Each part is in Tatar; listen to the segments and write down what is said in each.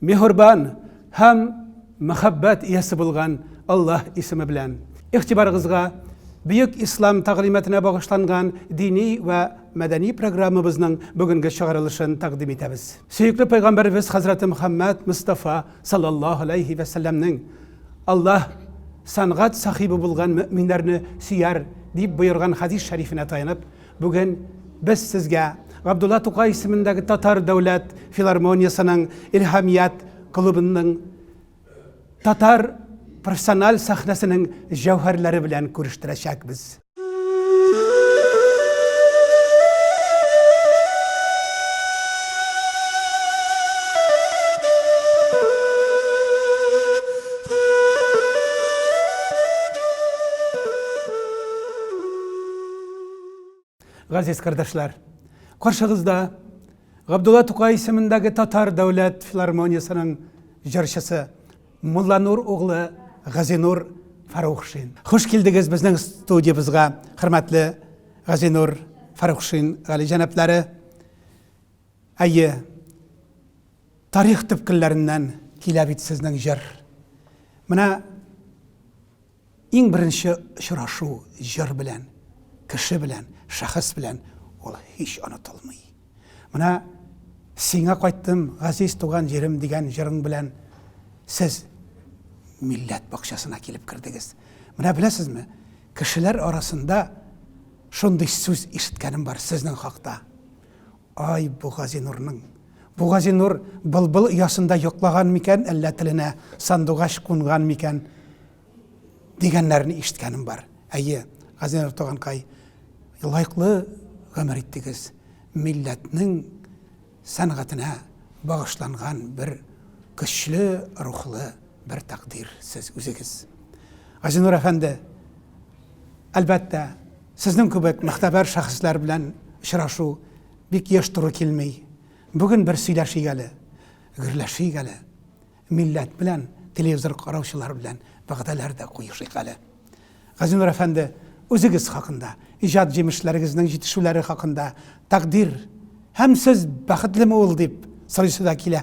Мехурбан һәм мәхәббәт иясе булган Аллаһ исеме белән. Игътибарыгызга Бөек Ислам тәгълиматына багышланган дини вә мәдәни программабызның бүгенге чыгарылышын тәкъдим итәбез. Сөекле Пәйгамбәребез хәзрәте Мөхәммәд Мостафа саллаллаһу галәйһи вә сәлләмнең, Аллаһ сәнгать сахибы булган мөэминнәрне сөяр, дип боерган хәдис шәрифенә таянып, Бүген без сезгә Габдулла Тукай исемендәге Татар дәүләт филармониясенең Илһамият клубының татар профессиональ сәхнәсенең җәүһәрләре белән күрештерәчәкбез. Газиз кардәшләр, каршыгызда Габдулла Тукай исемендәге Татар дәүләт филармониясенең җырчысы Мулланур углы Газинур Фарухшин. Хуш килдегез безнең студиябезгә, хөрмәтле Газинур Фарухшин гали җәнаплары. Әйе, тарих төпкелләреннән килә бит сезнең җыр. Менә Иң беренче очрашу җыр белән, кеше белән, шәхес белән ул һич онытылмый. Менә Сиңа кайттым, газиз туган җирем дигән җырың белән сез милләт бакчасына килеп кердегез. Менә беләсезме, кешеләр арасында шундый сүз ишеткәнем бар сезнең хакта. Ай, бу Газинурның! Бу Газинур былбыл оясында йоклаган микән, әллә теленә сандугач кунган микән? дигәннәрен ишеткәнем бар. Әйе, Газинур туганкай, лайклы гомер иттегез. Милләтнең сәнгатенә багышланган бер көчле рухлы, бер тәкъдир сез үзегез. Газинур әфәнде, әлбәттә, сезнең кебек мөхтәбәр шәхесләр белән очрашу бик еш туры килми. Бүген бер сөйләшик әле, гөрләшик әле. Милләт белән, телевизор караучылар белән вәгъдәләр дә куешыйк әле. Газинур әфәнде, үзегез хакында, иҗат җимешләрегезнең җитешүләре хакында тәкъдир һәм сез бәхетлеме ул дип сорыйсы да килә.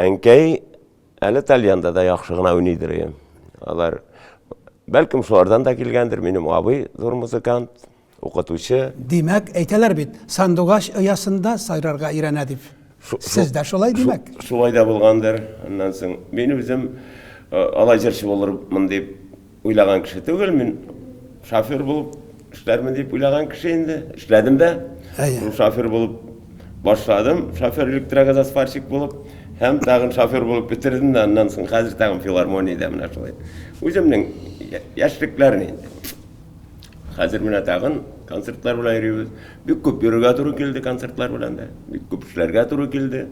Әнкәй әле тальянда да яхшы гына уйныйдыр ием. Алар бәлкем шулардан да килгәндер, минем абый зур музыкант, укытучы. Димәк, әйтәләр бит, сандугач оясында сайрарга өйрәнә дип. Сез дә шулай димәк? Шулай да булгандыр. Аннан соң мин үзем алай җырчы булырмын дип Уйлаган кеше түгел мин, шофер булып эшләрмен дип уйлаган кеше инде. Эшләдем дә. Әйе. Шофер булып башладым, шофер электрогазосварщик булып һәм тагын шофер булып бетердем дә аннан соң хәзер тагын филармониядә менә шулай. Үземнең яшьлекләрне инде. Хәзер менә тагын концертлар белән йөрибез. Бик күп йөрергә туры килде концертлар белән дә. Бик күп эшләргә туры килде.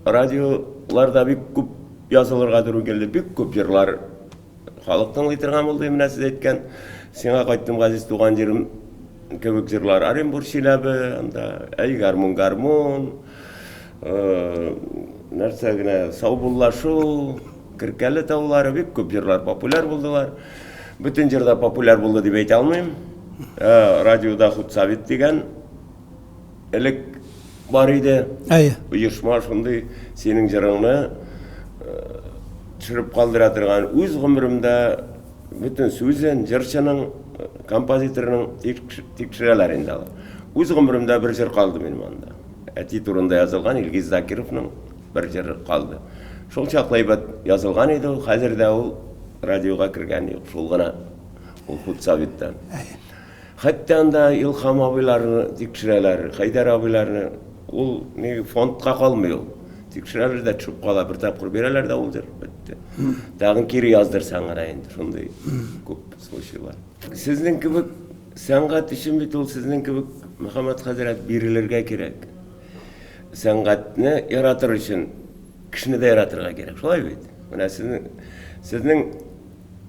Радиолар да бик күп язылырга туры килде, бик күп җырлар халык тыңлый торган булды, менә сез әйткән Сиңа кайттым газиз туган җирем кебек җырлар. Оренбур Чиләбе, анда Әй гармун гармун, э, нәрсә генә саубуллашу, Керкәле таулары бик күп җырлар популяр булдылар. Бөтен җырда популяр булды дип әйтә алмыйм. Э, радиода Худсавит дигән Элек бар иде. Әйе. Оешма шундый синең җырыңны э, төшереп калдыра торган. Үз гомеремдә бөтен сүзен җырчының, э, композиторның тикшерәләр инде алар. Үз гомеремдә бер җыр калды минем анда. Әти турында язылган Илгиз Закировның бер җыры калды. Шул чаклы әйбәт язылган иде ул, хәзер дә ул радиога кергән юк, шул гына ул худсоветтан. Хәтта анда Илһам абыйларны тикшерәләр, Хәйдәр абыйларны. Ул ни фондка калмый ул. Тикшерәләр дә төшеп кала, бер тапкыр бирәләр дә улдыр, бетте. Тагын кире яздырсаң гына инде, шундый күп случайлар. Сезнең кебек сәнгать өчен бит ул сезнең кебек, Мөхәммәт хәзрәт, бирелергә кирәк. Сәнгатьне яратыр өчен кешене дә яратырга кирәк, шулай бит? Менә сезнең, сезнең.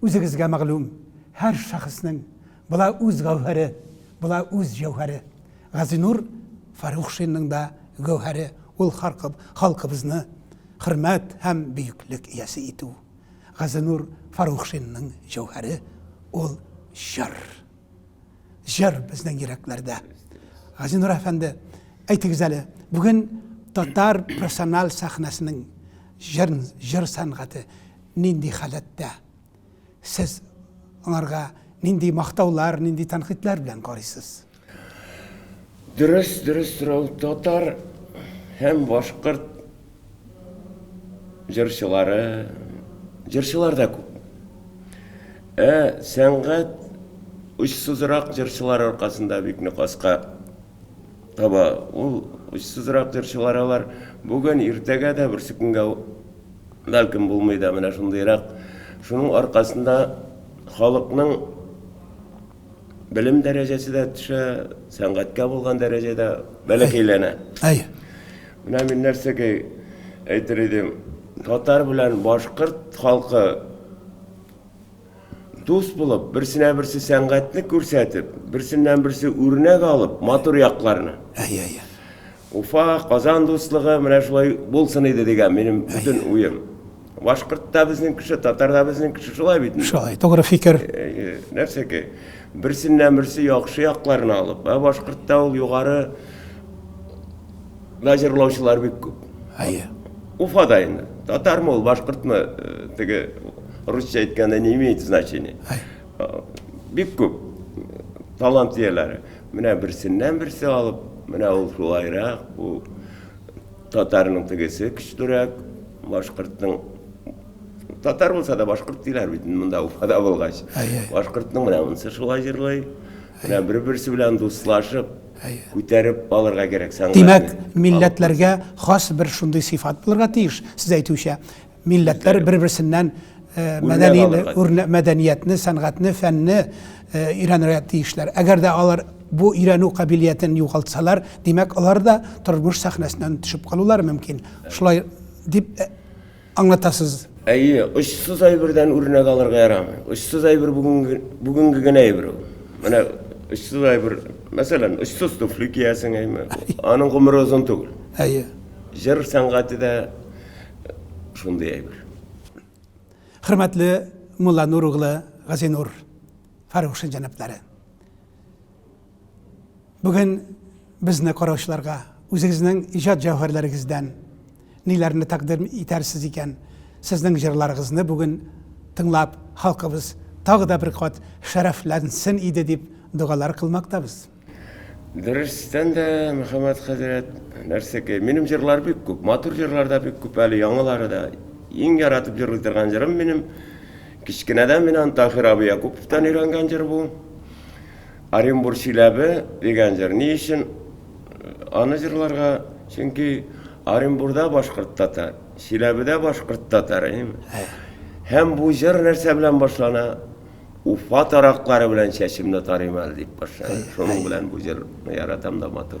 Үзегезгә мәгълүм, һәр шәхеснең була үз гәүһәре, була үз җәүһәре. Газинур Фәрухшинның да гәүһәре ул халкыбызны хөрмәт һәм бөеклек иясе итү. Газинур Фәрухшинның җәүһәре ул җыр. Җыр безнең йөрәкләрдә. Газинур әфәнде, әйтегез әле, бүген татар профессиональ сәхнәсенең җыр сәнгате Нинди халәттә? Сез аңарга нинди мактаулар, нинди тәнкыйтьләр белән карыйсыз? Дөрес, дөрес сорау. Татар һәм башкорт җырчылары, җырчылар да күп. Ә сәнгать очсызрак җырчылар аркасында бик нык аска таба. Ул очсызрак җырчылар алар бүген, иртәгә дә, берсекөнгә Бәлкем булмый да менә шундыйрак. Шуның аркасында халыкның белем дәрәҗәсе дә төшә, сәнгатькә булган дәрәҗә дә бәләкәйләнә. Әй. Менә мин нәрсәгә әйтер идем, татар белән башкорт халкы Дус булып, берсенә-берсе сәнгатьне күрсәтеп, берсеннән-берсе үрнәк алып, матур якларны. Әйе, әйе. Уфа, Казан дуслыгы менә шулай булсын иде дигән минем бөтен уем. Башкорт та безнең кеше, татар да безнең кеше, шулай бит. Шулай, тугры фикер. Нәрсәгә? Берсеннән-берсе яхшы якларны алып, ә башкортта ул югары Менә җырлаучылар бик күп. Әйе. Уфада инде. Татармы ул, башкортмы, э, теге русча әйткәндә не имеет значения. Э, бик күп талант ияләре. Менә берсеннән берсе алып, менә ул шулайрак, бу татарның тегесе көчлерәк, башкортның татар булса да башкорт диләр бит монда Уфада булгач. Әйе. Башкортның менә монысы шулай җырлый. Менә бер-берсе белән дуслашып, күтәреп калырга кирәк сәнгатьне. Димәк, милләтләргә хас бер шундый сыйфат булырга тиеш, сез әйтүчә. Милләтләр бер-берсеннән мәдәниятне, сәнгатьне, фәнне өйрәнергә тиешләр. Әгәр дә алар бу өйрәнү кабилиятен югалтсалар, димәк, алар да тормыш сәхнәсеннән төшеп калулары мөмкин. Шулай дип аңлатасыз. Әйе, очсыз әйбердән үрнәк алырга ярамый. Очсыз әйбер бүгенге, бүгенге генә әйбер ул. Менә очсыз әйбер, мәсәлән, очсыз туфли киясең, әйме? Аның гомере озын түгел. Әйе. Җыр сәнгате дә шундый әйбер. Хөрмәтле Мулланур углы Газинур Фарухшин җәнаплары. Бүген безне караучыларга үзегезнең иҗат җәүһәрләрегездән ниләрне тәкъдим итәрсез икән? Сезнең җырларыгызны бүген тыңлап, халкыбыз тагы да бер кат шәрәфләнсен иде дип догалар кылмактабыз. Дөрестән дә, Мөхәммәт хәзрәт, нәрсәкәй, минем җырлар бик күп, матур җырлар да бик күп, әле яңалары да. Иң яратып җырлый торган җырым минем, кечкенәдән мин аны Таһир абый Якуповтан өйрәнгән җыр бу. Оренбур Чиләбе дигән җыр ни өчен аны җырларга? Чөнки Оренбурда башкорт татар, Чиләбедә башкорт татар. Һәм бу җыр нәрсә белән башлана? Уфа тараклары белән чәчемне тарыйм әле дип башлана. Шуның белән бу җырны яратам да матур.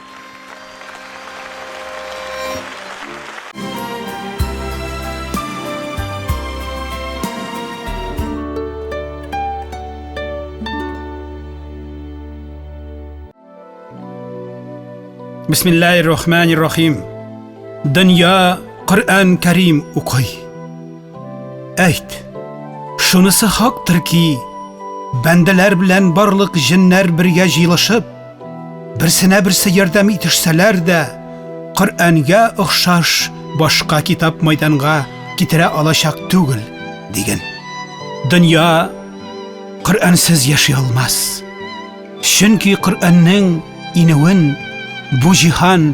Бисмиллаһир рахманир рахим. Дөнья Коръән Кәрим укый. Әйт. Шунысы хактыр ки, бәндәләр белән барлык җеннәр бергә җыелышып, Берсенә берсе ярдәм итешсәләр дә, Коръәнгә охшаш башка китап майданга китерә алачак түгел, диген. Дөнья Коръәнсез яши алмас. Чөнки Коръәннең инүен бу җиһан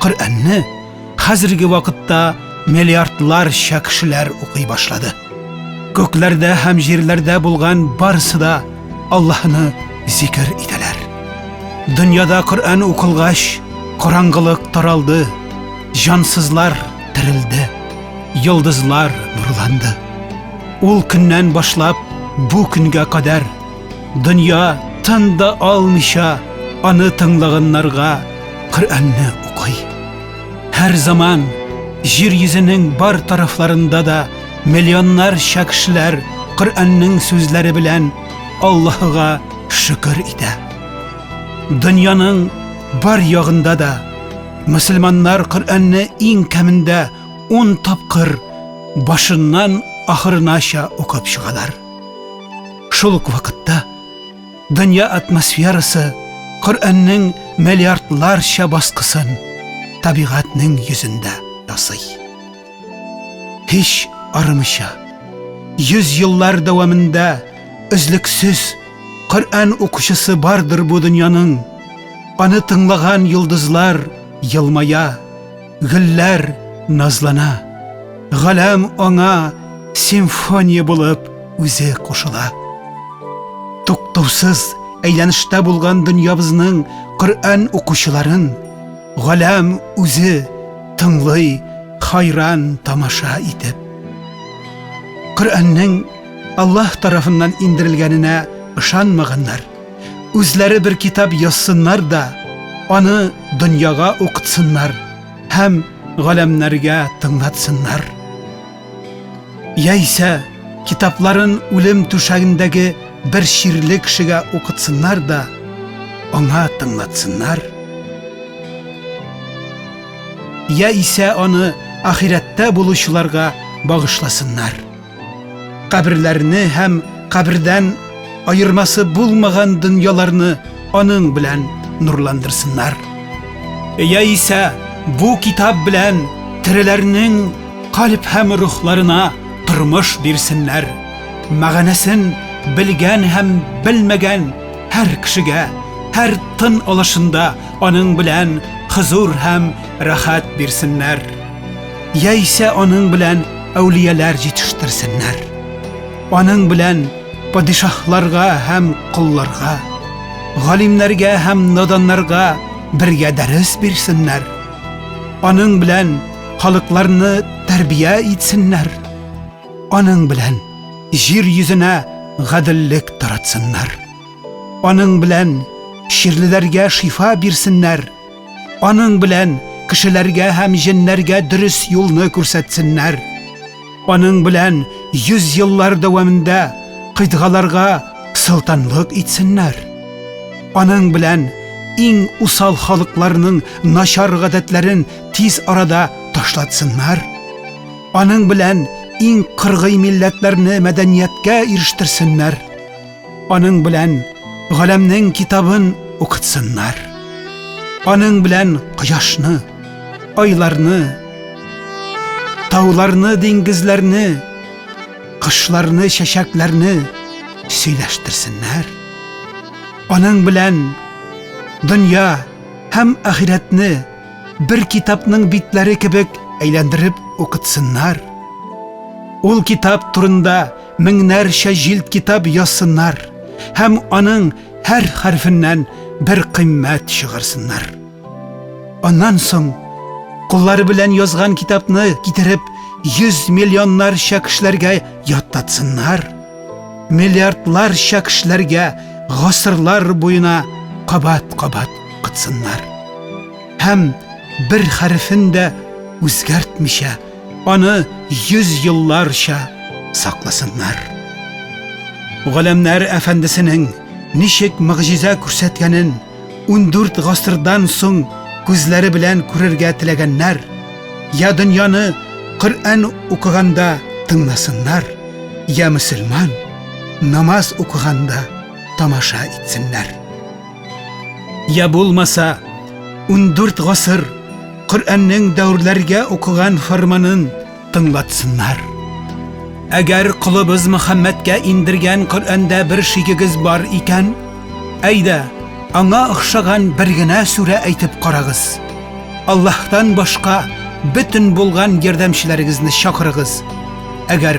Коръәнне хәзерге вакытта миллиардларча кешеләр укый башлады. Күкләрдә һәм җирләрдә булган барысы да Аллаһны зикер итәләр. Дөньяда Коръән укылгач, караңгылык таралды, җансызлар терелде, йолдызлар нурланды. Ул көннән башлап бу көнгә кадәр Дөнья тын да алмыйча аны тыңлаганнарга Коръәнне укый. Һәр заман җир йөзенең бар тарафларында да миллионнарча кешеләр Коръәннең сүзләре белән Аллаһыга шөкер итә. Дөньяның бар ягында да мөселманнар Коръәнне иң кәмендә 10 тапкыр башыннан ахырынача укып чыгалар. Шул ук вакытта дөнья атмосферасы Коръәннең миллиардларча баскысын табигатьнең йөзендә ясый. Һич арымыйча, йөз еллар дәвамында өзлексез Коръән укучысы бардыр бу дөньяның. Аны тыңлаган йолдызлар елмая, Гөлләр назлана, галәм аңа симфония булып үзе кушыла. Туктаусыз әйләнештә булган дөньябызның Коръән укучыларын галәм үзе тыңлый, хайран тамаша итеп. Коръәннең Аллаһ тарафыннан индерелгәненә ышанмаганнар. үзләре бер китап язсыннар да, аны дөньяга укытсыннар һәм галәмнәргә тыңлатсыннар. Яисә китапларын үлем түшәгендәге бер чирле кешегә укытсыннар да, аңа тыңлатсыннар. Яисә аны ахирәттә булучыларга багышласыннар. Каберләрне һәм кабердән аермасы булмаган дөньяларны аның белән нурландырсыннар. Яисә бу китап белән тереләрнең калп һәм рухларына тормыш бирсеннәр. Мәгънәсен белгән һәм белмәгән һәр кешегә, һәр тын алышында аның белән хозур һәм рәхәт бирсеннәр. яисә аның белән әүлияләр җитештерсеннәр. Аның белән падишаһларга һәм колларга, галимнәргә һәм наданнарга бергә дәрес бирсеннәр. Аның белән халыкларны тәрбия итсеннәр. Аның белән җир йөзенә гаделлек таратсыннар. Аның белән чирлеләргә шифа бирсеннәр. Аның белән кешеләргә һәм җеннәргә дөрес юлны күрсәтсеннәр. Аның белән йөз еллар дәвамында кыйтгаларга солтанлык итсеннәр. Аның белән иң усал халыкларның начар гадәтләрен тиз арада ташлатсыннар. Аның белән иң кыргый милләтләрне мәдәнияткә ирештерсеннәр. Аның белән галәмнең китабын укытсыннар. Аның белән кояшны, айларны, тауларны, диңгезләрне, кышларны, чәчәкләрне сөйләштерсеннәр. Аның белән дөнья һәм ахирәтне бер китапның битләре кебек әйләндереп укытсыннар. Ул китап турында меңнәрчә җилд китап язсыннар һәм аның һәр хәрфеннән бер кыйммәт чыгарсыннар. Аннан соң куллары белән язган китапны китереп 100 миллионнарча кешеләргә яттатсыннар. Миллиардларча кешеләргә гасырлар буена кабат-кабат кытсыннар. Һәм бер хәрефен дә үзгәртмичә Аны йөз елларча сакласыннар. Галәмнәр әфәндесенең ничек мөгъҗиза күрсәткәнен 14 гасырдан соң күзләре белән күрергә теләгәннәр, я дөньяны Коръән укыганда тыңласыннар, я мөселман намаз укыганда тамаша итсеннәр. Я булмаса, 14 гасыр Коръәннең дәүрләргә укыган фарманын тыңлатсыннар. Әгәр кулыбыз Мөхәммәдкә индергән Коръәндә бер шигегез бар икән, әйдә, аңа охшаган бер генә сүрә әйтеп карагыз. Аллаһтан башка бөтен булган ярдәмчеләрегезне чакырыгыз. Әгәр